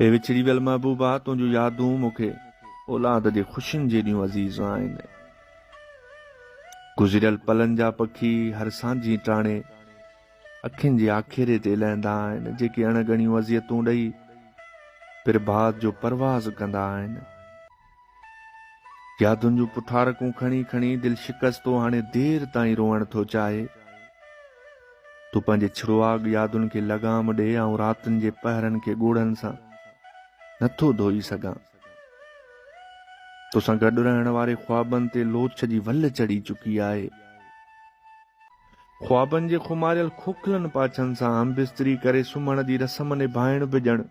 اي وڇڙي ويل محبوبا! تنهنجون يادون مون کي اولاد جي خوشين جيڏيون عزيز آهن. گذريل پلن جا پکي هر سانجهي ٽاڻي اکين جي آکيري تي لهندا آهن، جيڪي اڻ ڳڻيون اذيتون ڏئي پرڀات جو پرواز ڪندا آهن. يادن جون پٺارڪون کڻي کڻي دل شڪستو هاڻي دير تائين روئڻ ٿو چاهي. تون پنهنجي ڇڙواڳ يادن کي لغام ڏي آئون راتن جي پهرن کي ڳوڙهن سان نه ٿو ڌوئي سگهان. توسان گڏ رهڻ واري خوابن تي لوڇ جي ول چڙهي چڪي آهي. خوابن جي خماريل کوکلن پاڇن سان همبستري ڪري سمهڻ جي رسم نڀائڻ به ڄڻ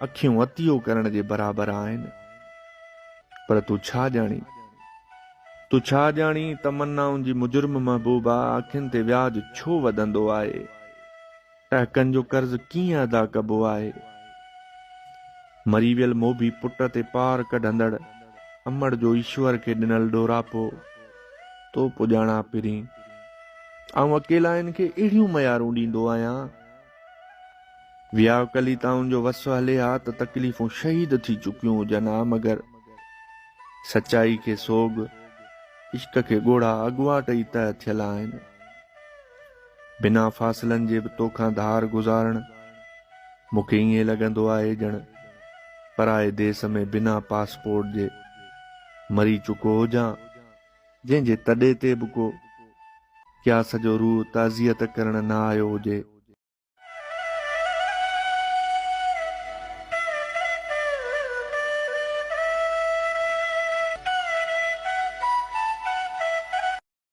اکيون عطيو ڪرڻ جي برابر آهن. پر تون ڇا ڄاڻين؟ تون ڇا ڄاڻين تمنائن جي مجرم محبوبا اکين تي وياج ڇو وڌندو آهي؟ ٽهڪن جو قرض ڪيئن ادا ڪبو آهي؟ مري ويل موڀي پٽ تي پار ڪڍندڙ امڙ جو ايشور کي ڏنل ڏوراپو تو پڄاڻان پرين. آئون اڪيلائين کي اهڙيون ميارون ڏيندو آهيان. وياو ڪليتائن جو وس هلي ها ته تڪليفون شهيد ٿي چڪيون هجن ها مگر سچائي کي سوڳ، عشق کي ڳوڙها اڳواٽ ئي طئه ٿيل آهن. بنا فاصلن جي به توکان ڌار گذارڻ، مون کي ائين لڳندو آهي ڄڻ پرائي ديس ۾ بنا پاسپورٽ جي مري چڪو هجان، جنهن جي تڏي تي به ڪو قياس جو روح تعزيت ڪرڻ نه آيو هجي.